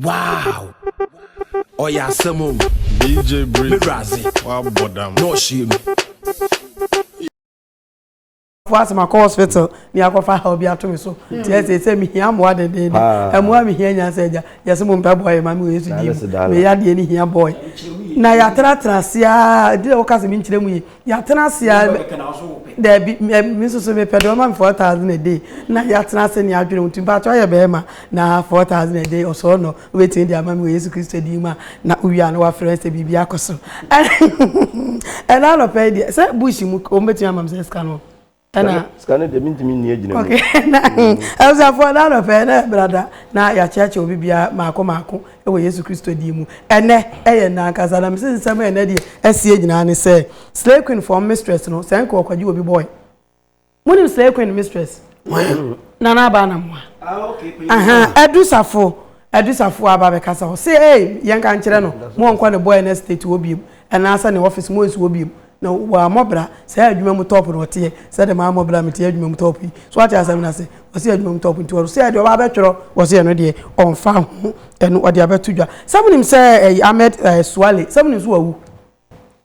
Wow! Ɔyɛ asɛm o. DJ Breezy. Me Razi. Wabɔ dam. Na ɔhyɛ mu. fo asɛm akɔ hospital ne akɔfa ha obi ato me so hmm. nti ɛsɛ sɛ mehia mmoa dendeende ɛmmoa mehia nya sɛ agya yɛsɛ mo mpɛ bɔɔyɛ ma me wɔ yesu din mu meyɛ adeɛ ne hia bɔɔyɛ na yɛatenatena ase a ɛdi na woka sɛ menkyerɛ mu yi yɛatena ase a daabi me nso so mepɛ deɛ ɔma me four thousand a day na yɛatena ase ne adwene wo nti mpakyɛ ɔyɛ bɛrima na four thousand a day ɔsɔɔ nɔ wobɛtumi de ama me wɔ yesu kristo din mu a na wowie a na wafrɛ sɛ biribi akɔ so ɛna anɔpɛ yi deɛ sɛ bush mu ɔmbɛtumi ama me sɛ sika no ɛna sika no deɛ mentumi nni agyina mu abusuafoɔ na anɔpɛ na brada na yɛakyeakyɛ obi bia maako maako wɔ yesu kristo din mu ɛnɛ ɛyɛ nna ankasa na mese nsɛm a ɛnɛ deɛ asie nyinaa ne sɛ slay queen fɔm mistress no sɛ nka ɔkwagye obi bɔe monim slay queen mistress nana aba na mmoa adusafo adusafo aba bɛkasa hɔ se ei yɛnka nkyerɛ no mo ɔnkɔ ne bɔe no state wɔ biem ɛnaasɛ ne office mo nsi wɔ biem Na wammɔ bra saa adwuma mu top no ɔteɛ sɛ dɛ mammɔ bra meteɛ adwuma mu top yi so wate asɛm no ase ɔse adwuma mu top nti ɔro sɛ deɛ ɔba abɛtwerɛ ɔse ɛno deɛ ɔmfa ho ɛno ɔde abɛto dwa sɛ monim sɛ ɛyi Ahmed eh, Suale sɛ monim so wawu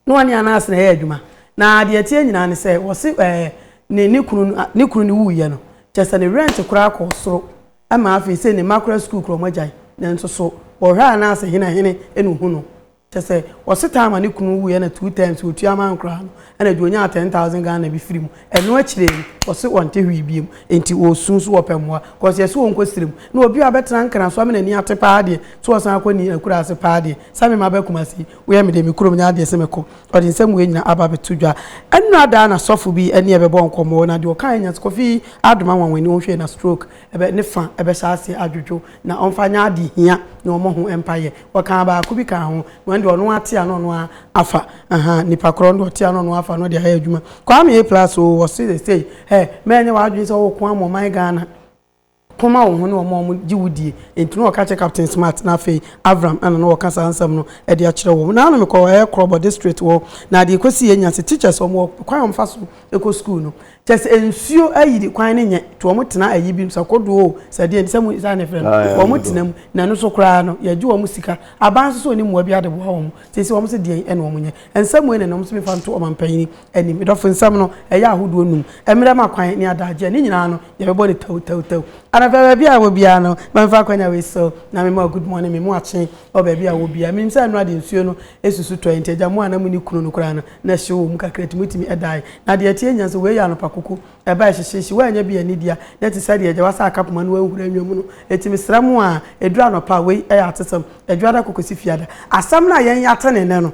na ɔne Anas na ɛyɛ adwuma na deɛ ɛteɛ nyinaa ne sɛ ɔse eh, ne ne kunu no- ne kunu no wuiɛ no kyɛ sɛ ne rent koraa kɔ soro ɛma afei sɛ ne mma koraa sukuu koraa ɔmo agyae nanso so ɔhwɛ Anas hene hene ɛna ohu no Kyerɛ sɛ ɔsetaa ma ne kunu wuiɛ na two times ɔtua ma nkoraa no ɛna de ɔnyaa ten thousand Ghana bi firi mu. Ɛno akyire yi ɔse ɔnte hwee biom nti ɔresu nso ɔpɛ mmoa cos yɛse ɔnkɔ srem na obi a ɔbɛtena nkran so ama n'ani ate paa deɛ sɛ ɔsan akɔ ne akuraase paa deɛ same maba kumase yi woyɛ medeɛ me kurom nyɛ adeɛ sɛ mɛkɔ ɔde nsɛm wei nyina aba abɛto dwa ɛnora da na sɔfo bi ɛne ɛbɛbɔ nkɔmɔɔ na deɛ ɔkaeɛ nya sɛ kɔfi adom anwanwani wɔn hwɛɛ na stroke ɛbɛ ne fa ɛbɛhyɛ aseɛ adwodwo na ɔmfa nyɛ ade hia na ɔmɔ ho mpaeɛ. Ɔkaa baako bi kaa ho na ɔno deɛ ɔno ara te a na ɔno ara afa ahaa nipa korɔ no deɛ ɔte a na ɔno ara afa na ɔde ayɛ adwuma. Kwame A plus oo wɔ se sesei hɛ mɛ nyɛ w'adwene sɛ wo ko ama ɔman Ghana ko ma wo ho ne wɔn a wɔn gye wo die nti na ɔka kyerɛ Captain Smart na afei Avram ɛna na ɔka saa nsɛm no de akyerɛ wɔn. Naano mekɔ ɛyɛ Krɔbɔ district hɔ na deɛ ɛkɔsiiɛ nya se teachers wɔn wɔ kwan a wɔn fa so kɔ school no Kyɛ sɛ nsuo ayiri kwan no nyɛ to wɔn tena ayi bi mu sɛ kodoɔ o sɛ deɛ nti sɛ mo saa na ɛfrɛ no ah, wɔn tena mu na ɛno so koraa no yɛgye wɔn sika aban nso so ne mmoa bi ade boa wɔn te sɛ wɔn sɛ deɛ ɛna wɔn nyɛ nsɛm wɔn na wɔn nso mefa nto ɔman panyin anim dɔfo nsɛm no ɛyɛ ahodoɔ num mmerɛ ma kwan ne adagyeɛ ne nyinaa no yɛbɛbɔ ne tɛw tɛw tɛw anafɛ baabi a wɔ biara no mɛmfa akwanya wei so na mema good morning memu akye wɔ baabi a wɔ biara menim sɛ ɛno ade nsuo no Susu tɔe nti, agya mo a na munni kunu no koraa no, na hyew wɔ mu kakra nti mutumi dae. Na deɛ ɛteɛ nyia nso, wei yɛ anɔpa koko, ɛba a ɛhyehye hye, woannya bi annidi a, na ɛte sɛdeɛ agya wasa aka poma na wanhura nwa mu no. Enti mesrɛ mo a, ɛduru anɔpa a, wei yɛ atesɛm, Adwoada kɔ kɔsi Fiada. Asɛm no a yɛn yɛate no nnɛ no,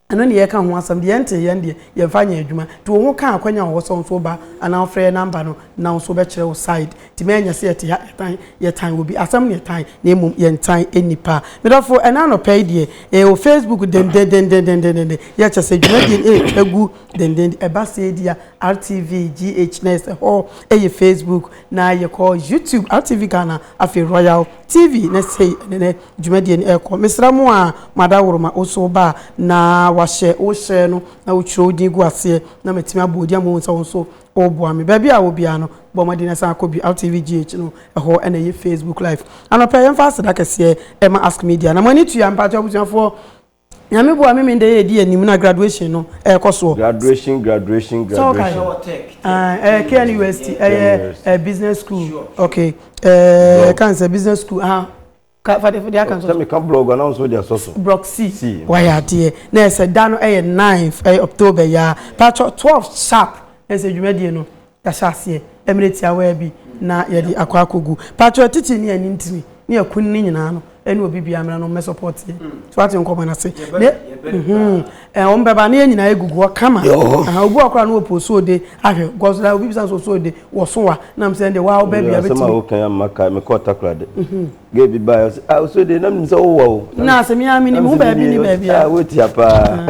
ɛno ne yɛreka ho asɛm, deɛ yɛntee yɛn deɛ, yɛmfa nyɛ adwuma. Nti wo ho ka akwannya a ɔwɔ sɛ wo nso woba anaa wɔfrɛ yɛn namba no na wo nso wobɛkyerɛ wo side. Tumi ɛnyɛ sɛ yɛte ha yɛtan yɛtan obi asɛm na yɛtan na mmom yɛntan nnipa me dɔfo ɛna anɔpa yi deɛ ɛyɛ wɔ facebook dendendendendendenden yɛ kyɛ sɛ dwumadie no ɛretwa gu denden ɛba sɛ di a rtv gh na ɛsɛ hɔ ɛyɛ facebook na yɛkɔ youtube rtv ghana afei royal tv na sei ɛne ne dwumadie no ɛrekɔ mesra mu a mo adaworo ma wo so ba na wahyɛ wohyɛ no na wotwerɛ wo din gu aseɛ na matumi abɔ odi ama wo nsa wo nso Ɔreboa me. Baabi a wɔ biara no, bɔ mmɔden na san kɔ bi. RTVGH no, ɛhɔ na ɛyɛ Facebook Live. Anɔpa yi, yɛmfa aseda kɛseɛ mma Ask Media. Na mo ani tua, mpakyɛw abusuafoɔ, Nyame boa me me nda yi a ɛdi anim no a graduation no ɛrekɔ soɔ. Graduation, graduation, Sɛ wokae? graduation. Ɛwɔ Tech, Tech, Ae, ɛyɛ Tech KNUST, University, ɛyɛ KNUST. ɛɛ business school. Sure, sure. Okay, ɛɛ Blog. ɛka ne sɛ business school, aha. Ka fa de fa de aka nsɔ so. Sɛ mi ka brɔg a na nso de asɔ so. Brɔg C. C. Wayɛ adeɛ na ɛsɛ da no ɛyɛ ninth ɛyɛ October yi ara patro twelve sharp na ɛsɛ dwumadie no yahyɛ aseɛ ɛmmerɛ tiawaa bi na yɛde akɔ akɔgu patro atitire ne anim tire ne akun ne nyinaa no ɛne obi biara mmra no mmɛ support yɛn so wate nkɔmɔ no ase ne mhm Eh, wɔn bɛba ne yɛn nyinaa egugu hɔ kama. Aha obi wɔ akora no opo so de ahwɛ gɔs na obi bisa nso so de wɔ so wa nam sɛ de wa ɔbɛ bia bɛtumi. Asɛm a wokan ya mma kae mekɔ ɔtakora de. Mhm. Gay bi baa ɔsɛ ah so de na menim sɛ wowɔ o. Na asɛm yi amene mu baabi ne baabi a. Ah wotia paa.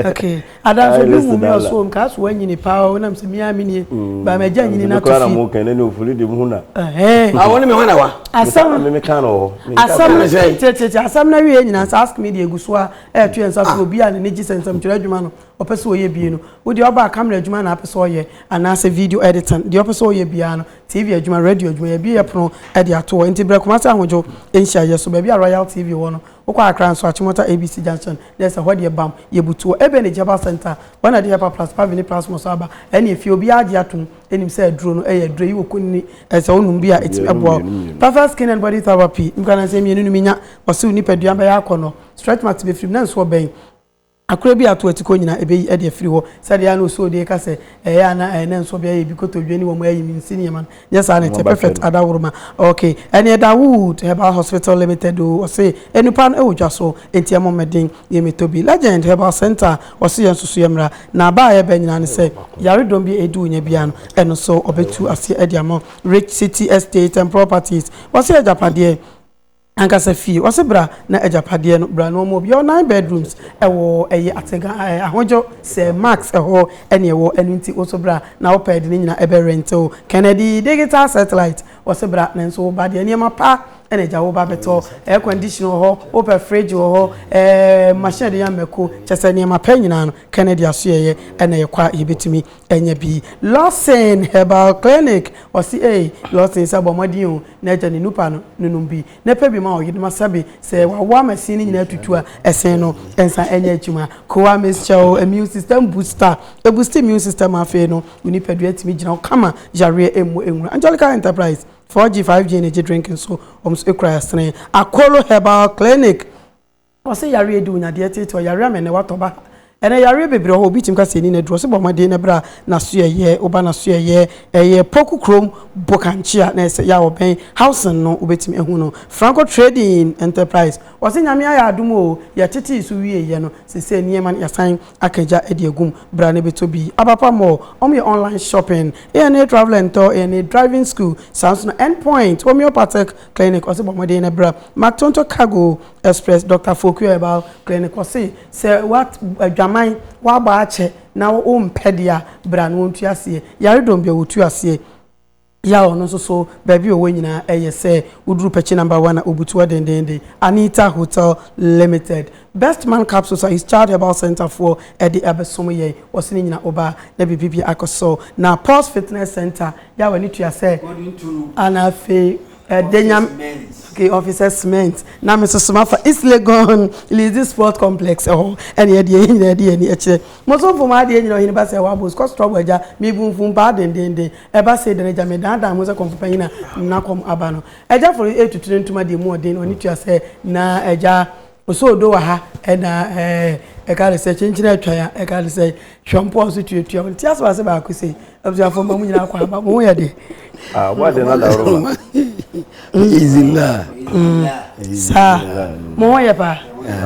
Ah, okay. Adanso bi hu mi ɔso nka so wanyini paa o nam sɛ mi amene mm. ba ma gya nyini na to fi. Kora na mo kan ne ofuli de mu na. Eh. Ah woni me ho na wa. Asɛm me me kan no. Asɛm tete asɛm na wie nyina ask me de egu so a ɛreto yɛn nsa so obi a n'ani gye sɛ nsɛmtwerɛ adwuma no ɔpɛ sɛ ɔyɛ bie no wo deɛ ɔbaa camera adwuma na apɛ sɛ ɔyɛ anaasɛ video editing deɛ ɔpɛ sɛ ɔyɛ biara no tv adwuma radio adwuma yɛbie yɛ pono de ato hɔ nti brɛ Kumasi ahodwo nhyiaeɛ so baabi a royal tv wɔ no wokɔ akra nso akyemɔta abc junction na ɛsɛ hɔ deɛ bam yɛbutu wɔ ebe ne jaba center wɔn ade yɛpa plus pavi ne plasmɔ so aba ɛne efie obiara agye atom ɛnim sɛ aduro no ɛyɛ aduro yi wɔ kunini ɛsɛ onum bi a ɛtumi ɛboa perfect skin and body therapy nkura na nsɛm mmienu no minya ɔsew nipadua bɛyɛ akɔnɔ Stretch marks befiri mu, nanso ɔbɛn akora bi a ato atikɔ nyinaa ɛbɛyi ɛde afiri hɔ. Sɛdeɛ a na Osoo de reka sɛ ɛyɛ a na ɛyɛ nanso ɔbea yɛ bi kotodwe ne wɔn ayi me nsi nneɛma no, nyɛ saa na ɛteɛ. Perfect Adaworoma, Ok, ɛneɛ da Wood Herbal Hospital Limited oo, ɔse nnupa no wɔ dwa so enti ɛmmɔ mmɔden yɛ mɛtɔ bi. Legend Herbal Centre, ɔse yɛn nso so yɛ mmra na ba a ɛyɛ bɛ nyinaa ne sɛ yaredɔm bi a ɛdi wo nya biara no ɛno nso ɔbɛtu aseɛ de ama wo. Rich City Estate and Properties, ɔse agyapadeɛ. Ankasa fie, ɔse bra na agyapadeɛ no bra na ɔmɔ obi, yɛwɔ nine bedrooms ɛwɔ ɛyɛ atenka ɛɛ ahodjo sɛ max ɛhɔ ɛne ɛwɔ ɛno nti woso bra na wo pɛ de ne nyina ɛbɛ rente wo kennedy digital satellite ɔse bra nanso wo ba deɛ nneɛma pa ɛna agya wo ba bɛtɔ air condition wɔ hɔ wo pɛ fridge wɔ hɔ ɛɛ machine ɛde yɛ mako kyɛsɛ nneɛma pɛ nyina no kennedy aso yɛyɛ ɛna yɛkɔ a yɛbɛtumi. Ɛnyɛ bi. Lawson herbal clinic ɔse ei Lawson sɛ bɔ mmɔden o na gya ne nupa no no nom bi na pɛ bi ma wo yedema sɛbe sɛ wawo ama ɛsen no nyinaa tutu a ɛsen no nsa ɛnyɛ adwuma koa mesrɛ wo immune system booster ɛboosti immune system a afei no wo nipadua tumi gyina hɔ kama yareɛ ɛmmu ɛnwura Angelica Enterprise 4G 5G energy drink nso wɔn nso ɛkura ɛsene Akolo herbal clinic Ɔse yareɛ de onya deɛ ɛteetee ɔ yareɛ ama ɛnɛ watɔ ba ha ɛnɛ yareɛ bebree ɔhɔ obi tumi ka sɛ ɛni naduro ɔse bɔ mmɔden na bra nasoɛyɛ woba nasoɛyɛ ɛyɛ poku krom bokankyea na ɛsɛ yaw ɔbɛn housing no wobɛtumi ahu no franco trading enterprise ɔse nyame ayɛ adom oo yɛtetee so wieeɛ no sesei nneɛma no yasan aka gya de agum bra na bɛtɔ bi abapa mall wɔn yɛ online shopping ana travel and tour ana driving school saa nso na end point homeopathic clinic ɔse bɔ mmɔden na bra mactonto cargo Express Dɔkta Foku Herbal Clinic ɔse sɛ w'at adwaman w'abɔ akyɛ na wo wo mpɛ deɛ a bra na wɔntu aseɛ yare dɔm bi a wɔtu aseɛ yɛ a ɔno nso so baabi a ɔwɔ nyinaa ɛyɛ sɛ woduru pɛkyi number one a ɔbutu hɔ dendeenden Anita Hotel Limited Best Man Capsules a His Child Herbal Centre foɔ ɛde abɛsom yɛn ɔse ne nyina wo ba na biribi bia akɔ so na Pulse Fitness Centre yɛ a w'ani tua sɛ ana afei. Ɛde nyam okay officer cement na me soso ma fa east legon lizzy sport complex ɛhɔ ɛne ɛde yɛn nyinaa ɛde yɛn ani ɛkyerɛ mo so nfo mo ade yɛn nyinaa ɔhene ba sɛ wabo scotch trouble ɛgya me bu nfo mpaa dendenden ɛba sɛ dɛn ɛgya me dan dan mo sɛ kɔnfo panyin na na kɔm aba no ɛgya foro ɛtuturi ntoma deɛ mu ɔden ɔne tua sɛ na ɛgya Ɔsɛ odo wɔ ha ɛna ɛɛ ɛka ne sɛ kyenkyen atwa ya ɛka ne sɛ hwɛ mpɔ nso tuatua wɔn ti asɛm ase baako sɛ abusuafo ma mo nyinaa akɔ aba mo ho yɛ deɛ. Ah, wọ́n adé náà dàrú ma. Easy la. Saa, mo ho yɛ paa.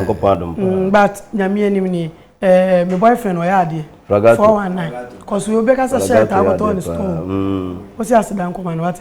Nkɔ paa dùn paa. But nyame anim ni, eh, my boyfriend ɔyɛ adeɛ. Ragato. Four one nine. Kɔsu obi kasa hyɛ ɛta akɔtɔ ɔne store. Ɔsi aseda nkɔma no wate.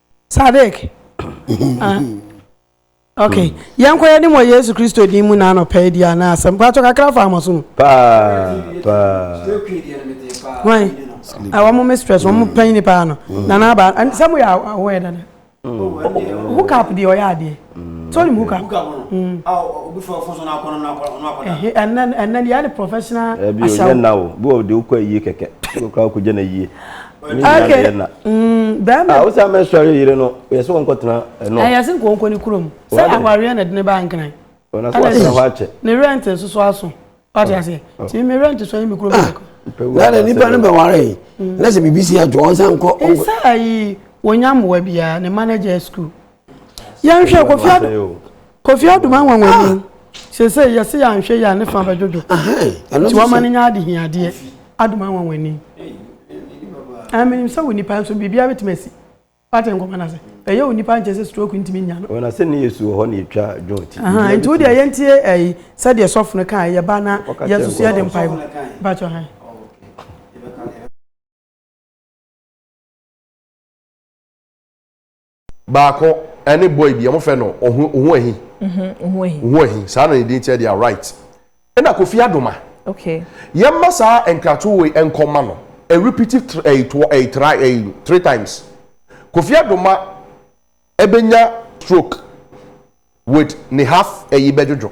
Sadik, ah, ok, yɛn kɔ yɛn ni mo Yesu Kristo din mu na anɔpɛ yi di a na asɛm kɔ ato kakra fa ama so no. Paa paa. Wɔn, ɛwɔ mo mistress, wɔn mo panyin paa no, na n'aba, sɛ mo yɛ awɔ yɛ dada. Hook up deɛ ɔyɛ adeɛ. So nim hookah? Hookah ho no. Mm. Ah, obi fo fo so na akɔ no na akɔ no akɔ da. Eh, and then and then yeah, the professional asaw. Eh, bi o na o. Bi o de o kwa yie keke. Bi o kwa ko jana yie. Okay. Mm, bɛrima. Ah, o sa me sɔre yire no. Yɛ sɛ wɔn kɔ tena ɛnɔ. Eh, yɛ sɛ nkɔ nkɔ ne kurom. Sɛ awareɛ na dene ba nkran. O na so wa sɛ hɔ akyɛ. Ne rent nso so aso. Ɔte ase. Ti me rent so yɛ me kurom kɔ. Na na nipa no bɛ ware yi. Na sɛ BBC adwo ɔnsan kɔ. Nsa ayi wɔnya mmoa biara ne manager school. yɛnhwɛ kofi ado kofi ado ma nwanwa ni ah! sese yɛse yɛanhwɛ yɛ a ne fa bɛdwodwo nti wɔma no nya ade hiadeɛ ado ma nwanwa ni ɛmenim sɛ wo nipa nso biribiara bɛtumi asi wate nkɔmɔ no ase ɛyɛ wo nipa nkyɛ sɛ stroke ntumi nya no ɔna sɛ ne yɛsu wɔ hɔ ne yɛtwa dwon ti nti wodeɛ yɛntie ɛyi sɛdeɛ sɔfo no kaa yɛba na yɛsusu yɛde mpae mu bakyɛ hɛn Baako ɛne boy bi ɔmo fɛ no ohu ohu ahi. Mhm ohu ahi. Ohu ahi saa na ne din kyɛ deɛ right. Ɛna Kofi Adoma. Okay. Yɛn ma saa nkratoɔ wei nkɔ ma no ɛ repeat it ɛ toɔ ɛ try ɛ three times. Kofi Adoma ɛbɛ nya stroke with ne half ɛyi bɛ dwodwo.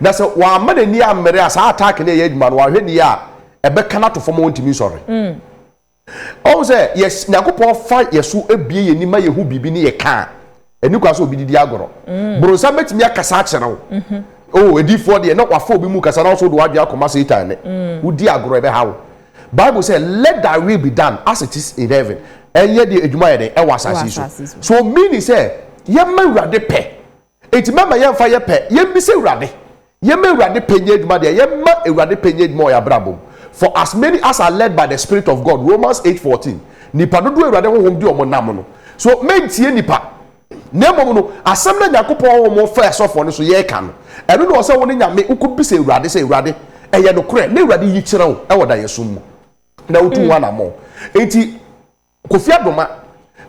Na sɛ wamma n'ani ammere a, saa attack no reyɛ adwuma no, wahwɛ nie a, ɛbɛka no ato fam a ɔntumi nsɔre. Ɔhu sɛ, yes, Nyankopɔn fa yɛ so bue yɛn ani ma yɛhu biribi ne yɛ ka a, ɛni kwan sɛ obi didi agorɔ. Boronsam bɛtumi akasa akyerɛ wo. Oh, adiyifoɔ deɛ, na wafa obi mu kasa na wo nso wode w'adwene akɔma Satan ne. Wodi agorɔ, ɛbɛha wo. Bible sɛ, Let thy will be done as it is in heaven, ɛnyɛ deɛ adwuma yɛ dɛn, ɛwɔ asase yi so. So meaning sɛ, yɛmma Awurade pɛ Enti mɛma yɛmfa yɛ pɛ, yɛmmisa Awurade, yɛmma Awurade pɛ nyɛ adwuma deɛ, yɛmma Awurade pɛ nyɛ adwuma wɔ yɛn abrabɔ mu. For as many as are led by the Spirit of God, Romans eight fourteen, nnipa dodoɔ a Awurade Honhom de wɔn nam no. So, mɛntie nnipa, na mmom no, asɛm no a Nyankopɔn Honhom faa asɔfoɔ no so yɛreka no, ɛno na ɛwɔ sɛ wo ne Nyame, wokɔbisa Awurade sɛ, Awurade, ɛyɛ nokorɛ? Na Awurade yi kyerɛ wo wɔ daeɛso mu, na wotu ho anammɔn. Enti, Kofi Adoma,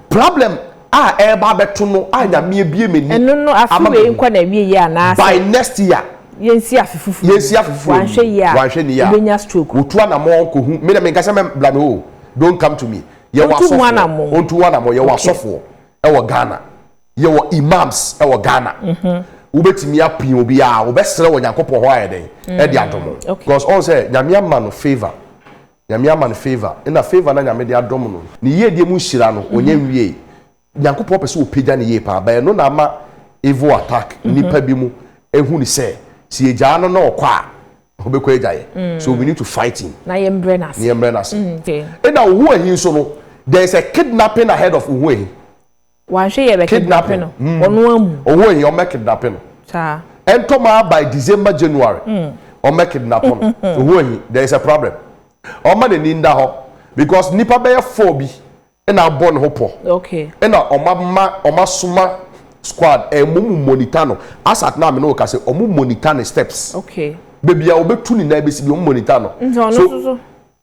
problem a ɛreba abɛto no a Nyame abue m'ani Ɛno no afe ama wei mahu nkɔ na awie yie anaa sɛ by next year yɛnsi afe foforɔ mu yɛnsi afe foforɔ wanhwɛ yie a mu wanhwɛ ne yie a wobɛnya stroke wɔtu anamɔn kɔhu me na menka sɛ mɛbla no o don't come to me yɛwɔ Ɔntu ho asɔfoɔ anamɔn. ɔntu ho anamɔn yɛwɔ Okay. asɔfoɔ ɛwɔ Ghana yɛwɔ imams ɛwɔ Ghana wobɛtumi apia obiara wobɛsrɛ wɔ Nyankopɔn hɔ ayɛ dɛn ɛde adom wo Okay. because ɔhu sɛ Nyame ama no favour Nyame ama no favour, nna favour no a Nyame de adom no, ne yiedie mu nhyira no, ɔnnya nwiei. Nyankopɔn pɛ sɛ ɔpagya no yie paa, but ɛno na ama evil attack nnipa bi mu ahu no sɛ, sɛ yɛgyaa no na ɔkɔ a, ɔbɛkɔ agya yɛ. So we need to fight him. Na yɛmbrɛ no ase. Na yɛmbrɛ no ase. Nna Ohuahi nso no, there is a kidnapping ahead of Ohuahi. Wanhwɛ yɛ bɛ kidnape no ɔno amu. Oho eyi ɔmɛ kidnape no. Saa. Ɛntɔ maa by December January ɔmɛ kidnapo no oho eyi there is a problem ɔmma n'ani nda hɔ because nipa bɛyɛ four bi ɛna abɔ ne ho pɔ ɛna ɔmɔ ama ɔmɔ asoma squad ɛɛ mo mo monitor no as at now me ne wo ka sɛ ɔmɔ monitor ne steps bebia ɔbɛ tu ne nan bɛ si bi ɔmɔ monitor no so.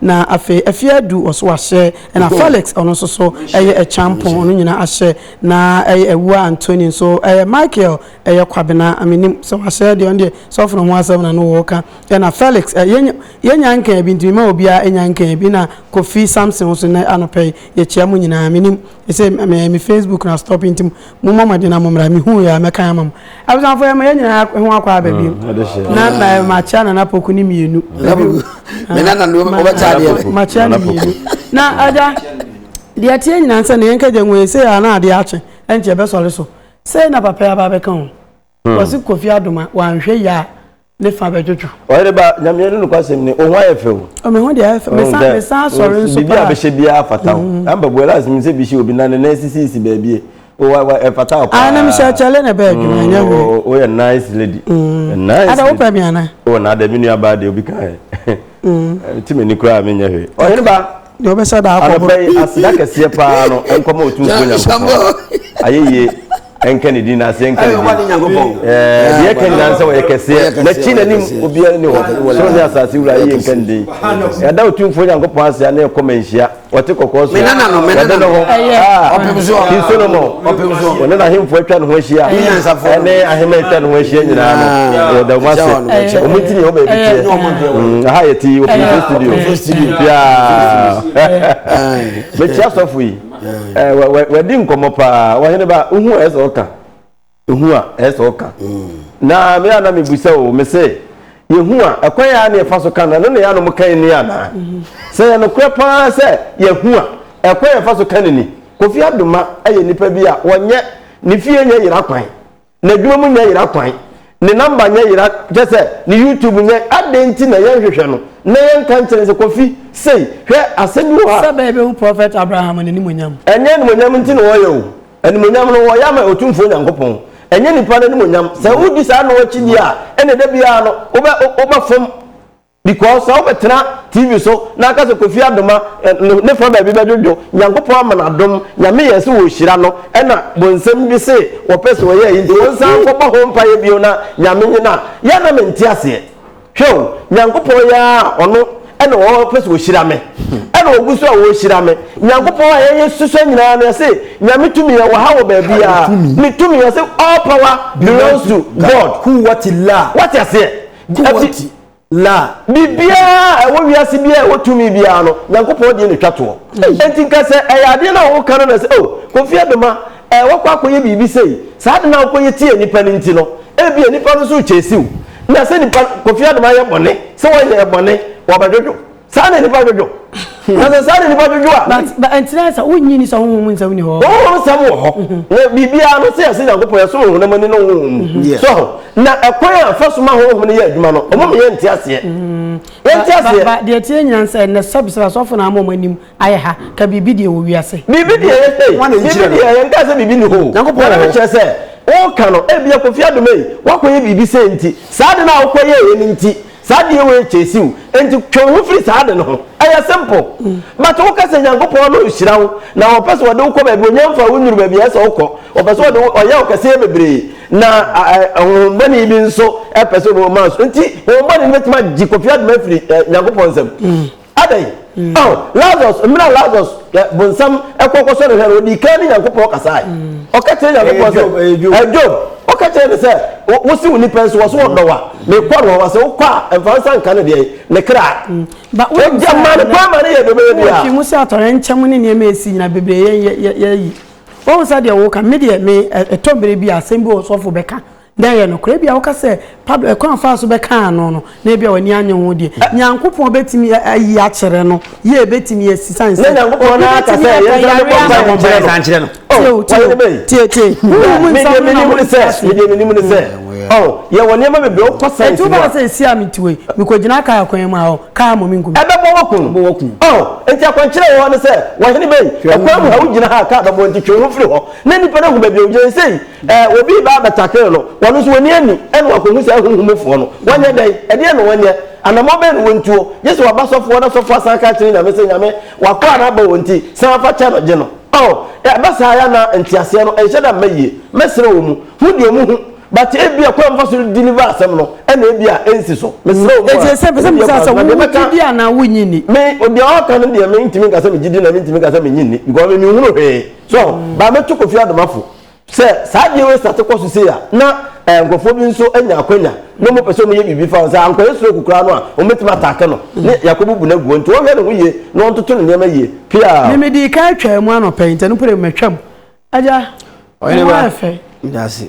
Na afei afie adu wɔ so wahyɛ, ɛna Felix ɔno nso so ɛyɛ ɛkyampɔn ɔno nyina ahyɛ na ɛyɛ awua Antoni nso ɛyɛ Michael ɛyɛ Kwabena menim sɛ wahyɛ deɛ ɔno deɛ sɔfo no ho asɛm na no woka ɛna Felix ɛ yɛnya yɛnya nkan bi nti mema obiara ɛnya nkan bi na Kofi Samson nso nɛ anɔpɛ yi yɛkyia mo nyinaa menim ɛsɛ me me Facebook na stop nti Mommɔ mmɔden na mommra. Mehuu yei a, mɛkan ama mo. Abusuafoɔ yɛn yɛn nyinaa ho akɔ aba bio. Mm, na na makyia Nana Poku ne mmienu. Makyia ne mmienu. Na agya, deɛ teɛ nyinaa sɛ ne yɛn kagya ngu yɛ sɛ yɛ ana adeɛ akye, ɛnkyɛ ɛbɛsɔre so. Sɛ na papa yɛ aba abɛka ho. Wɔse Kofi Adoma wanhwɛ yie a ne fa bɛdwodwo. Ɔyere ba, Nyame ne nokwasɛm ni, wo ho ayɛ fɛ o. O me ho deɛ ayɛ fɛ, mesan asɔre nso paa. Biribi a bɛhyɛ biara fata o. Amber boy last menim sɛ bi hyɛ obi na ne nan sisisisi baabie. O wa wa ɛfata wo paa. Aane mehyɛ kyale na ɛbɛɛ adwuma ɛnyɛ hwee. O woyɛ nice lady. Nice lady. Ada wopɛ me anaa? O na ada me nuabaa deɛ obi ka ɛ. Ɛte m'ani koraa a menyɛ hwee. Ɔyere ba. deɛ ɔbɛsa da akɔ anɔpa yi aseda kɛseɛ paa no nkɔma ɔtumfoɔ nyankopɔn ayɛyie ɛnka ne din na aseɛ nka ne din deɛ ɛka nyinaa sɛ ɔyɛ kɛseɛ n'akyi n'anim obiara ne hɔ soro ne asase wura ayɛyie nka ne din yɛda ɔtumfoɔ nyankopɔn ase a na ɛkɔ ma nhyia wɔte kɔkɔɔ so wɔde ne ho king solomon ɔne n'ahemfo atwa ne ho ahyia ɛne ahema atwa ne ho ahyia nyinaa no yɛda wɔn ase wɔn ti ne hɔ baabi teɛ Mm, aha yɛ ti open face studio open face studio yaa bɛti asɔfo yi wɔdi nkɔmɔ paa wɔhene ba ehu a ɛsɛ ɔka ehu a ɛsɛ ɔka na me a na mebusa o me sɛ yɛhu a ɛkwan yɛ a na yɛfa so ka no ɛno na yɛ a na ɔmo kan ni anaa sɛ yɛ nokorɛ paa sɛ yɛhu a ɛkwan yɛfa so ka no ni kofi adoma yɛ nipa bi a wɔnyɛ ne fie nyɛ yera kwan N'adwuma mu nyɛ yera kwan. Ne number nyɛ yera kyɛ sɛ ne YouTube nyɛ adɛn nti na yɛn hwehwɛ no na yɛn ka nkyerɛ no sɛ Kofi sei hwɛ asɛm bi wɔ hɔ a. Sɛ bɛɛ bɛhu Prophet Abraham n'animuonyam. Ɛnyɛ animuonyam nti na wɔyɛ o. Animuonyam no wɔyɛ ama Otumfoɔ Nyankopɔn. Ɛnyɛ nipa no animuonyam. Sɛ wodi saa no akyi deɛ a ɛna da biara no wobɛ wobɛfom. Because sɛ wobɛtena TV so na aka sɛ Kofi Adoma ne fa baabi bɛdwodwo, Nyankopɔn ama no adom, Nyame yɛɛ sɛ wɔhyira no ɛna bonsam bi se wɔpɛ sɛ wɔyɛ ayi nti wonsan nkɔbɔ ho mpaeɛ bio na Nyame nye no a, yɛ na mente aseɛ. Hwɛ o, Nyankopɔn yɛ ara a ɔno ɛna ɔpɛ sɛ ɔhyira me, ɛna ɔgu so a ɔrehyira me. Nyankopɔn a yɛyɛ susua nyinaa no yɛse Nyame tumi ɛwɔ ha wɔ baabiara, ne tumi yɛse all power belongs to God. Wate aseɛ? La. Biribiara a ɛwɔ wiase biara a ɛwɔ tumi biara no, Nyankopɔn deɛ na ɛtwa toɔ. Enti nka sɛ ɛyɛ adeɛ no a woka no na sɛ, oh, Kofi Abema, eh, woakɔ akɔyɛ biribi sei, saa ade no a wokɔyɛ tiaa nnipa no nti no, ebia nnipa no nso rekyɛɛsi wo. Na sɛ nnipa no, Kofi Abema ayɛ bɔne, sɛ wanyɛ bɔne, wɔbɛdwodwo. saa na nipa dwodwo na sɛ saa na nipa dwodwo a. but but ntina sɛ wonyi ni sɛ honhom mu nsɛm ni hɔ. honhom mu nsɛm wɔ hɔ mhm. na biribiara no sɛ yɛsɛ nyankopɔn yɛsɛ honam ani ne honhom mu mhm. so ho na ɛkwan a fa so ma honhom no yɛ adwuma no ɔmo meyɛ nte aseɛ mhm. yɛnte aseɛ. ba deɛ tie nyina sɛ ɛnɛ sɛbisɛ asɔfo na ama ɔmo anim ayɛ ha ka biribi deɛ wɔ wiase. biribi deɛ yɛ sɛ biribi deɛ yɛn kaa sɛ biribi ni hɔ nyankopɔn na ɛkyerɛ sɛ wɔka no ebi akɔfi adoma yi wakɔyɛ biribi sɛ nti saa de no a wokɔyɛ yɛ no nti Saa adeɛ wei chase wo enti twe wo ho firi saa ade no ho. Ɛyɛ simple. But wo ka sɛ Nyankopɔn no nhyira wo na ɔpɛ sɛ ɔde wo kɔ baabi ɔnya mfa wo nnuru baabi a ɛsɛ ɔkɔ. Ɔpɛ sɛ ɔde wo ɔyɛ wo kɛseɛ bebree na honhom bɔne bi nso pɛ sɛ ɔma so. Enti honhom bɔne no bɛtumi agye Kofi Adoma afiri Nyankopɔn nsam. Adɛn? Ɔh, Lazarus, mmerɛ a Lazarus, ɛ, bonsam ɛkɔ kɔsɔ ne hwɛ no, ɔdii kan ne Nyankopɔn kasae. Ɔka kyerɛ Nyankopɔn sɛ, Ɛyɛ Job, ɛyɛ Job. Ɛ, Job, ɔka kyerɛ no sɛ, Wo, wose wo nipa nso, wɔse wɔdɔ wo a, mekɔ ne hɔ a, sɛ wokɔ a, ɛmfa wo nsa nka ne deɛn? Ne kra. Ba, wonim Ogya sɛ maa ne ɛnnɛ, kwan ma ne yɛ deɛ ɔbɛyɛ wowɔ biara. fi mu sɛ atɔyɛnkyɛm ne nneɛma a ɛsi nyina bebree yɛ, yɛ, yɛ, yɛyi. Woahu sɛ deɛ woka, me deɛ, me, ɛ, ɛtɔ mmerɛ bi a, asɛm bi wɔ hɔ sɔfo bɛka, Dɛ yɛ nokwar. Ebia woka sɛ, 'Pablo, kwan a ɔfaa so bɛkaa ano no, na ebia w'enyi annye ho deɛ, Nyankopɔn betumi ayi akyerɛ no. Yie, ebetumi asi, siane sɛ obi betumi aka yare ama no. Tie o, tie o, tie, tie. Honhom mu nsɛm no na worete ase yi. Enti wobɛka sɛ, Esi a mete hɔ yi, mikogyinaa kaa kwan mu a, ɔ, kaa mmom nkum me. Ɛbɛbɔ wo kum. Ɛbɛbɔ wo kum. Ɔ, enti akwankyerɛ a ɛwɔ hɔ ne sɛ, Ɔhene bɛn, ɔkwan mu ha, wogyina ha a, kaa bɛbɔ wo, enti twe wo ho firi hɔ, na nnipa no ahu baabi a wogyina. Nsɛyi. Eh, obi reba abɛtakere no, ɔno nso wani anni, ɛna wakohu saa ahuhu mufoɔ no. Wanyɛ dɛn? Ɛdeɛn na wanyɛ? Anammɔn bɛn na wɔntuo? Gye sɛ waba sɔfo hɔ na sɔfo asan aka akyerɛ Nyame sɛ, Nyame, w'akoa no aba wɔn nti, san fa kyɛ no, gye no. Oh, ɛba saa ya na nteaseɛ no nhyɛ da mma yie. Mɛsrɛ wɔn mu. Ho deɛ wɔn hu. But ebia kwan a wɔfa so redeliver asɛm no na ebia ɛnsi so. Mesrɛ wɔn mu a, Enti ɛsɛ sɛ mebisa wo sɛ, na deɛ wogye mɛka, di anaa wonnye nni? me, deɛ ɔreka no deɛ mentumi nka sɛ megye di na mentumi nka sɛ mennye nni because me menhunu hwee. So, but mɛto Kofi Adomafo. Sɛ saa adeɛ wei starte kɔ so sei a, na eh, nkurɔfoɔ bi nso anya akwanya na wɔn pɛ sɛ wɔn yɛ biribi fa ho. Sɛ ankɔyɛ stroke koraa no a, wɔn bɛtumi ataake no ne yɛakɔbubu no agu hɔ. Nti wɔhwɛ ne ho yie na wɔntoto ne nneɛma yie. Piaa. Me me dii kan twaa mu anɔpa yi, ntɛno pere matwam. Agya, Ɔhene wo ba, ayɛ fɛ. meda ase.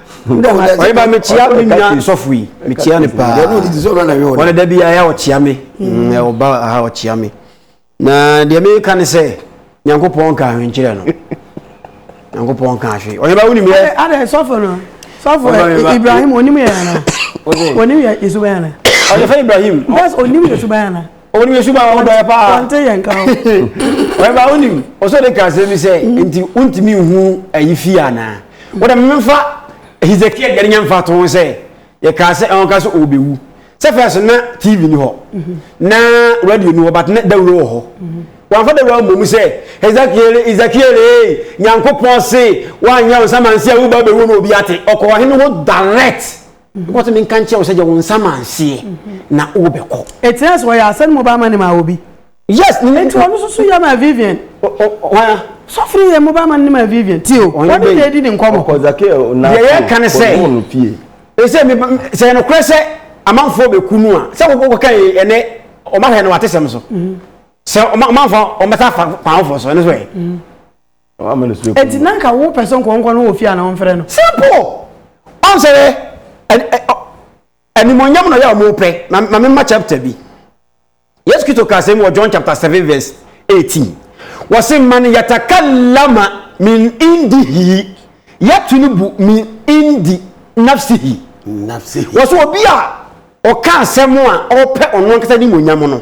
ɔyɛba mekyia me nua sɔfo yi mekyia no paa ɔne da biara yɛ ɔkyia me mm, ɔba aha ɔkyia me na deɛ meka ne sɛ nyankopɔn ka ahwenkyerɛ no nyankopɔn ka ahwe ɔyɛba wonim yɛ adɛ sɔfo no sɔfo ibrahim onim yɛ ana onim yɛ yesu bɛyɛ ana ɔyɛfɛ ibrahim bɛs onim yesu bɛyɛ ana Wɔn yɛ suba wɔn dɔyɛ paa. Wɔn ti yɛ nka ho. Wɔn ba wɔn nim ɔsɔ de kan sɛ mi sɛ nti wɔn ti mi hu ayi fi ana. Wɔn dɛ mi nfa Hezekiah deɛ ne nya nfa to ho sɛ yɛ kaa sɛ ɛwɔn ka sɛ ɔbɛ wu. Sɛ fɛ so na TV ni hɔ na radio ni hɔ but na dawuro wɔ hɔ. Wɔn afa dawuro mbɔ mu sɛ Hezekiah Hezekiah ee nyanko pɔn se wɔn anya wɔn sama nsia wo ba bɛ wu na obi ate ɔkɔ ɔhene hɔ direct. Wɔtumi nka nkyerɛ wo sɛ deɛ wo nsa ma nseɛ na wobɛkɔ. Ɛtena sɛ ɔyɛ asɛm mobile money ma obi. Yes. Nti ɔno nso so yɛ ma Vivian. Wana. Sɔfiri yɛ mobile money ma Vivian. Ti o. Wɔn de yɛ di ne nkɔmɔ. Ɔkɔ zake ɛ ɔna. Deɛ yɛ ka ne sɛ. Ɔno no fie. Ɛsɛ mi sɛ yɛn korɛ sɛ amanfoɔ bɛ ku nu a sɛ wɔn kɔ kan ɛnɛ wɔn ahwɛ no wɔn atesɛm so. Sɛ ɔmanfoɔ wɔn bɛ sa fa kwan foɔ so ɛno so yɛ. Eti na nka wo pɛ sɛ nkɔnkɔ no wɔ fie a na wɔmfrɛ no. Simple! Ɔn sɛ yɛ animuonyam na ɔyɛ a wɔpɛ. Ma ma memma chapter bi. Yesu Kristo ka asɛm wɔ John chapter 7 verse 18. Wɔse man yatakallama min indihi yatulubu min indi nafsihi. Nafsihi. Wɔse obi a ɔka asɛm a ɔpɛ ɔno ankasa animuonyam no.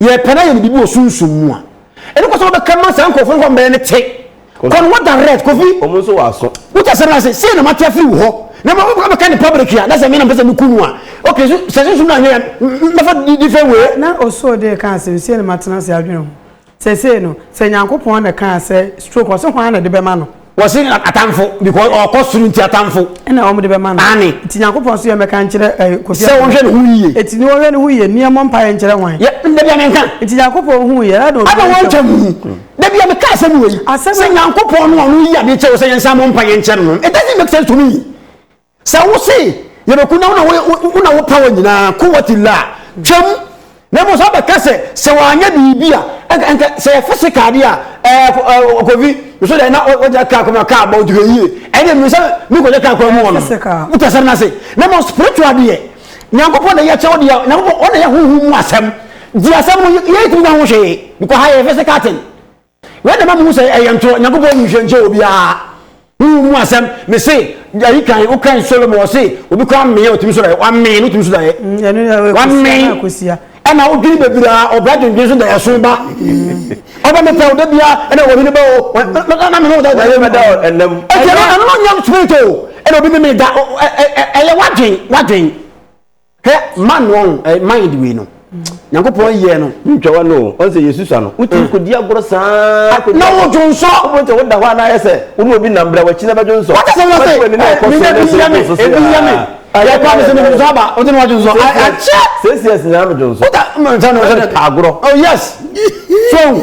yɛpɛ na yɛ ne biribi wɔ sunsum mu a ɛno kɔ sɛ wobɛka ma saa nkurɔfoɔ no hɔ mmɛyɛ ne te kɔ no hɔ direct kofi ɔmo nso wɔ aso wotɛ sɛ no ase sei na mate afiri wo hɔ na ma wobɛka bɛka ne public a na sɛ me na mpɛ sɛ meku no a ok so sɛ sunsum no anyɛ mɛfa different way na ɔsoo de ka ase no sei na matena ase adwene ho sɛsei no sɛ nyankopɔn na kaa sɛ stroke ɔse hwan na de bɛma no wɔsi atamfo because ɔkɔ soro nti atamfo. ɛna wɔn de bɛma no. ani. nti nyankopɔn nso yɛ mɛka nkyerɛ ɛɛ eh, kofi. sɛ wɔhwɛ ne ho yie. eti ne wɔhwɛ ne ho yie nea mo mpa yɛ nkyerɛ wɔn. yɛ ndebia mi nka. nti nyankopɔn hu yɛ ɛna wɔn. ɛna wɔn nkyɛn mu debia mi ka asɛm wɔ yi. asɛm sɛ nyankopɔn no ɔno yi ade kyɛw sɛ yɛn nsa mo mpa yɛ nkyɛn no it doesn't make sense to me. Sɛ wo se yɛbɛku na wo na wo power nyinaa, quwwat illah, twam, na mmom sɛ wobɛka sɛ sɛ wanyɛ biribi a ɛnka ɛnka sɛ yɛ physical adeɛ a ɛɛ kofi nso dɛ na ɔgya kaa kɔma kaa bɔ ɔtuka yie ɛne mmiri sɛ mi kɔgya kaa kɔma mu wɔn wotɛ sɛm na se na mmom spiritual deɛ nyankopɔn na yɛ kyɛw deɛ nyankopɔn ɔna yɛ honhom mu asɛm di asɛm no yɛ tumi na ho hwee because ha yɛ physical thing Wei na ɛma muhu sɛ ɛyɛ ntorɔ. Nyankopɔn nhwehwɛ nkyɛ obiara honhom mu asɛm. Mese ayi kan wokan Solomon ɔse obi koraa mmee a otumi so daeɛ. Wamee no otumi so daeɛ. Ɛno na ɛwɔ Wamee kusia na kusia. ɛna wodwene bebree a ɔbra dwendwen so daeɛ so ba. Ɔba mepɛ wo da biara ɛna wɔhene bɛ o wɔ- na- na- na mene wo da daeɛ mu. Mɛda wo ɛnam. Ɛti ɛno ɛno na ɔnyam spirit o ɛna obi memee da o ɛ- ɛ- ɛ- ɛyɛ wadwen wadwen. hwɛ ma no ɔn eh, mind wei no nyankopɔn yɛ no ntwa wa no ɔn sɛ yesu sa no wotumi mm. kɔdi agorɔ saa ah, na wodwo nsɔ wobɛhu sɛ woda hɔ a na ayɛ sɛ wo ne obi nam bra wakyi na bɛdwo nsɔ wate sɛ wosɛ eh, menya bi yɛ me ebi yɛ me ah, yɛ kora me sɛ medwo nsɔ aba wote ne wadwo nsɔ akyɛ sɛsiɛs nyinaa medwo nsɔ wota mfɛ no agorɔ oh yes so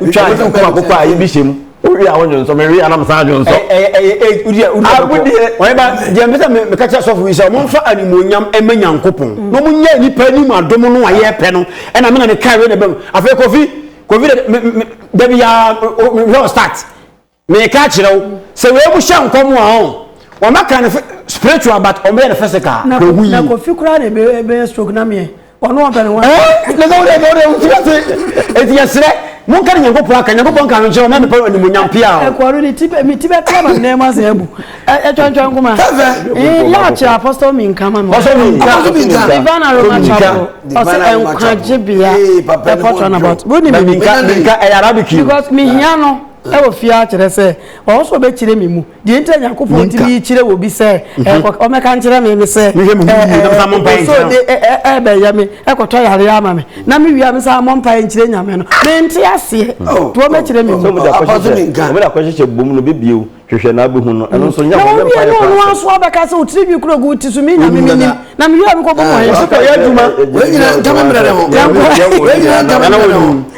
wotwa ade wokum akokɔ a yɛbi hyɛ mu wowie a wonwo nsɔ mewie a na mesan adwo nsɔ deɛ mpɛ sɛ meka kyerɛ sɔfo yi sɛ ɔmomfa animuonyam ma nyankopɔn mm. na ɔmonyɛ nnipa anim adom no a yɛpɛ no ɛna mena meka wei na bam afei kofi kofi da biaa hwɛ start Meka akyerɛ wo sɛ wei mu hyɛ nkɔm a ɔn wɔmɛka no spiritual but wɔmɛyɛ no physical na hu yi. Na kofi koraa na ɛbɛyɛ stroke na meɛ ɔno ɔpɛ ne ho. Ɛɛ na sɛ wode ɛbɛ wode wotu ase eti yɛsrɛ monka ne nyankopɔn aka nyankopɔn nka no nkyerɛ wɔn na mepɛ animonyam pia o. Ɛkɔɔno ne ti me ti bɛpia ma nnɛɛma asɛ abu ɛtwɛntwɛn nkoma. Yɛ akyerɛ apostol mi nka ma me. Apostol mi nka. Divine aroma chapel ɔsɛ nkwagye bea ɛpɔtɔ na bɔt. Wo ni mi nka. Ɛyɛ arabic yi. Because mi hia no. Wɔ fie ara kyerɛ sɛ ɔwɔ sɛ ɔbɛkyerɛ me mu. Deɛ nti a Nyankopɔn tumi kyerɛ wɔ bi sɛ ɛkɔ ɔmɛka nkyerɛ me ne sɛ ɛso de ɛbɛyɛ me ɛkɔtɔ yareɛ ama me na me wie a me san mɔ mpaeɛ nkyerɛ Nyame no mente aseɛ to ɔmɛkyerɛ me mu. Ɔmɛda kɔhyehyɛ bom no bɛbie o hwehwɛ na abɛhu no ɛno nso nyɛ hɔ yɛmpa yɛ kɔ ɔno aso abɛka sɛ ɔtiri nwi kuro gu ti so me Nyame menim na me wie a me kɔ bɔ mɔ yɛ so kɔ yɛ adwuma yɛnkɔ yɛ nyina ntɛmɛ mmerɛ ne ho yɛnkɔ yɛ nyina ntɛmɛ mmerɛ ne ho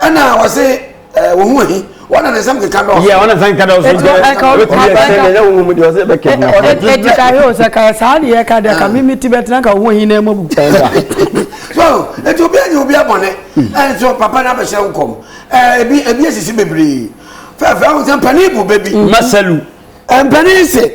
ɛna wɔse eh, wɔhu ahi wɔna ne nsɛm keka dɔɔso yɛ ɔna nsan kada ɔso Ɛti nkyɛn ɛka ɔbɛtumi ɔbɛtumi ayɛ ayɛ sɛ ɛnyɛ wo mu deɛ ɔsɛ bɛkɛ mu na ɔno ɛti ka hɛ o sɛ ka yɛ saa deɛ ɛka deɛ ka mimi ti bɛtena nka ho ahi na ɛmɔ bu so nti obi anyi obi abɔne nso papa no abɛhyɛ wo kɔm Eh, ebi ebi asisi bebree fɛfɛ ahosɛ mpanin bu bɛbi masalu mpanin se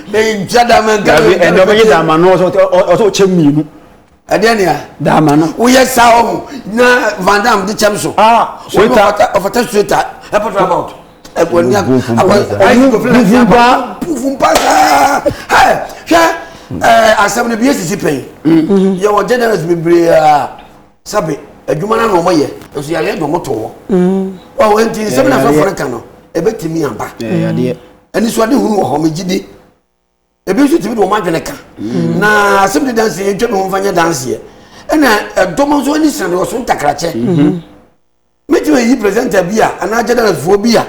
menkyɛ da menka dabi ɛnna ɔbɛyɛ dama no ɔsɛ ɔsɛ ɔkyɛ mmienu ɛdeɛ nea dama no woyɛ saa ɔho na van dam de kyɛm so ah ɔfata ɔfata straight a ɛpɔtɔ about ɛbɔ ni akɔ ayi kofi na ti abɔ pufu mpa saa ɛ hwɛ ɛɛ asɛm no bi yɛ sisi pɛn mm-hmm. yɛ wɔ generous bebree a sabi adwuma na na wɔn yɛ nso yɛ ayɛ dɔm to hɔ ɔwɔ nti nsɛm na fɛn fɛn ka no ɛbɛtumi aba. anisoadehunu wɔ hɔ megye di ebi nso tumi de wɔn adwene ka mm. na asɛm de dansi yɛn twɛ bi wɔn fa nyɛ danseɛ ɛna ɛdɔm nso ani sena de wɔso ntakrakyɛ mm-hmm. mɛtumi ayi presenter bi a anaa gyadanafoɔ bi a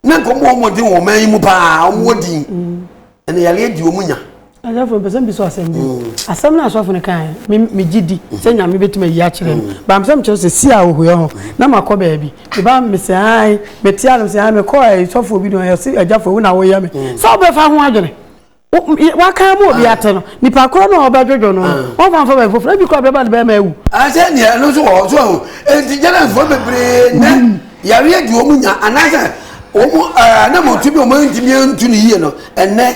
na nkɔmmɔ wɔn mmɔden wɔn man yi mu paa wɔn wɔ din mm. ɛna yɛre adi wɔn nya Asɔfo mpɛ sɛ mbisa wo asɛm bio. Mm. Asɛm no asɔfo no kae, me megye di sɛ mm-hmm. Nyame bɛtumi ayi akyerɛ no. Mm. Baam sɛ mekyerɛ sɛ si a ɔhua ho mm-hmm. na makɔ baabi. Meba mesɛ ae, mete anom sɛ ae, mekɔ eh, sɔfo bi no ɛse agyafo wo na woyɛ me. Mm. Sɛ wobɛfa ho adwene. Waka mu obi ah. ate no, nipa korɔ no a ɔbɛdwodwo no, ah. wɔmfa mfa baabi foforɔ, ebi kora bɛba no bɛma awu. Asɛ ah, nea ɛno nso wɔ hɔ so ahu, enti gyanafoɔ bebree nɛ mm. yareɛ di wɔn nya anaasɛ wɔn anamɔtu bi wɔn ntumi ntu ne yie no, ɛnɛ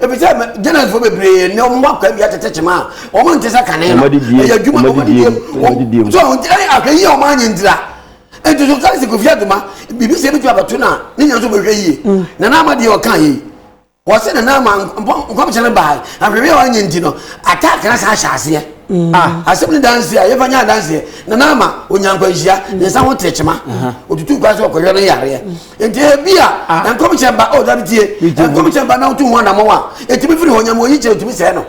efisɛ gyanansifo bebree na wɔn wɔ akwaa bi atete kyema a wɔn nte sɛ kane no ɛyɛ adwuma wɔn de diem wɔn so wɔn gyina ahwɛ yie wɔn anyɛ ntira nti so sɛ sikofie adwuma biribi sɛ ebi tu abɛto na ne nyina so bɛhwɛ yie mm. na n'ama deɛ ɔka yie wɔsi na n'ama nkɔmhyɛ no baa ahwɛhwɛ yɛ wɔn nyɛ nti no attack na san ahyɛ aseɛ mm. ah, asɛm ne dansi a yɛfa nyɛ adanseɛ na n'ama onyankwanhyia ne nsa ho tiri kyema otutu kwan so ɔkɔhwɛ no yareɛ nti ebi a ah. nkɔmhyɛ ba o oh, dabi tie nkɔmhyɛ ba n'awotu ho anamɔ wa etumi firi hɔ nyamu oyi kyerɛ etumi sɛɛ no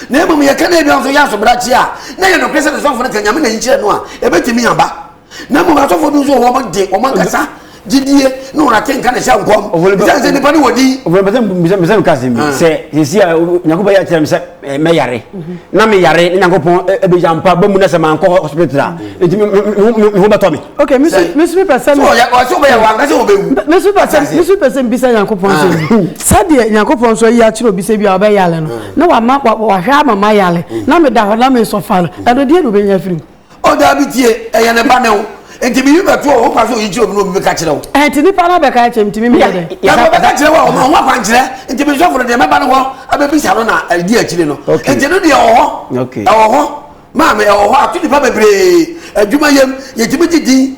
na emom yɛ kɛnɛ ebi nso yɛ asobra kyi a na yɛ nɔpɛ sɛ sɔfo no ka nyame na yi kyerɛ no a ebetumi aba na emom asɔfo bi nso wɔn de wɔn ankasa gyidie ne wɔn ate nka na ɛhyɛ nkɔm sɛ sɛ nipa ne wɔ di. ɔfɔlɔ bɛsɛ mbisɛ mbisɛ mi kasi mi sɛ sisi a nyakubɛ yɛ akyerɛ mi sɛ. eh, mɛyare na meyare ne nyankopɔn eh, eh, bɛgya mpa ba mu na sɛ mankɔ hospital a ɛnti me ho bɛtɔ me okay mesu mesu pɛ sɛ mesu pɛ sɛ mesu pɛ sɛ mbisa nyankopɔn sɛ ah. sɛdeɛ nyankopɔn nso ayi akyerɛ obi sɛ bi a ɔbɛyale no na wama wahwɛ ama mayale na meda hɔ na mesɔfa no ɛno deɛ na obɛnya firi mu O daabi tie, ɛyɛ ne ba ne wo. Nti biribi bɛto a, wokwan sɛ oyi kyerɛ obi na obi bɛka kyerɛ wo. Ɛɛ nti nipa no abɛka akyerɛ ntumi meyɛ dɛ. Na nka ɔbɛka kyerɛ wo a, ɔma ho akwankyerɛ. Nti me sɔfo no deɛ mɛba no hɔ abɛbisa no na ɛdi akyire no. Nti no deɛ ɛwɔ hɔ. Ɛwɔ hɔ. Maame ɛwɔ hɔ. Ato nipa bebree adwuma yam. Yɛtumi gye din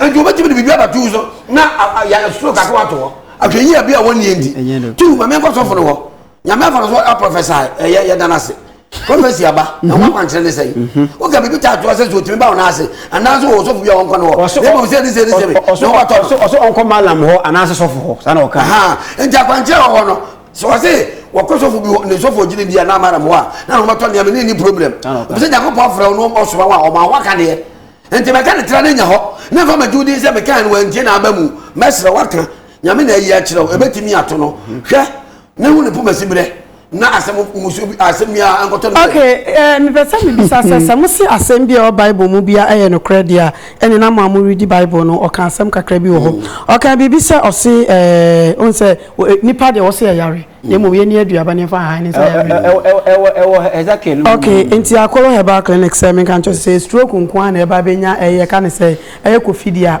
nti wobɛtumi de biribi abato wo so na soro kaka wato hɔ ahwɛyia bi a wɔnnie nti tu ma menkɔ sɔfo no hɔ nyame afa no so aprofesae ɛyɛ yɛda no ase prɔfɛsi aba na wɔn akwankyerɛ ne sɛn woka biribi ta atoa sɛ so otumi ba wɔn ase anaasɛ wɔ sɔfo bi a wɔnkɔ no hɔ na mmom sɛ ne sɛ ne sɛ bi na wɔatɔ no ɔsɛ ɔnkɔ malam hɔ anaasɛ sɔfo hɔ saa na ɔka nti akwankyerɛ wɔ hɔ no sɛ wɔse wɔkɔ sɔfo bi hɔ ne sɔfo gyina bi a na malam hɔ a na wɔatɔ nneɛma ne ni problem ɛfisɛ nyankopɔn afrɛ wo no ɔsoma wo a ɔma waka deɛ Enti mɛka ne tra no anya hɔ, na mfa magye wo din sɛ mekae no, wantie n'aba mu. Mɛsrɛ wo aka Nyame na ayi akyerɛ wo, ɛbɛtumi ato no. Hwɛ, na hu ne poma siberɛ, na asɛm mmusuo bi, asɛm biara ankɔtɔ ne so. Ok, eh, mepɛ sɛ mebisa sɛ, sɛ mose asɛm bi a ɛwɔ Bible mu biara yɛ nokorɛ deɛ a, ɛnne na mo a mo redi Bible no, ɔka asɛm kakra bi wɔ hɔ. Ɔkaa biribi sɛ, ɔse eh, wohu sɛ, eh, nnipa deɛ wɔse ɛyare. na mmom yɛni aduaba ne yɛmfa nhahan ne nsa yare no. Ɛwɔ Hezekiel mu. Ok, nti Akolo Herbal Clinic sɛ menka nkyerɛ sɛ stroke nko ara na ɛba bɛnya ɛyɛ ka ne sɛ ɛyɛ kofidie a.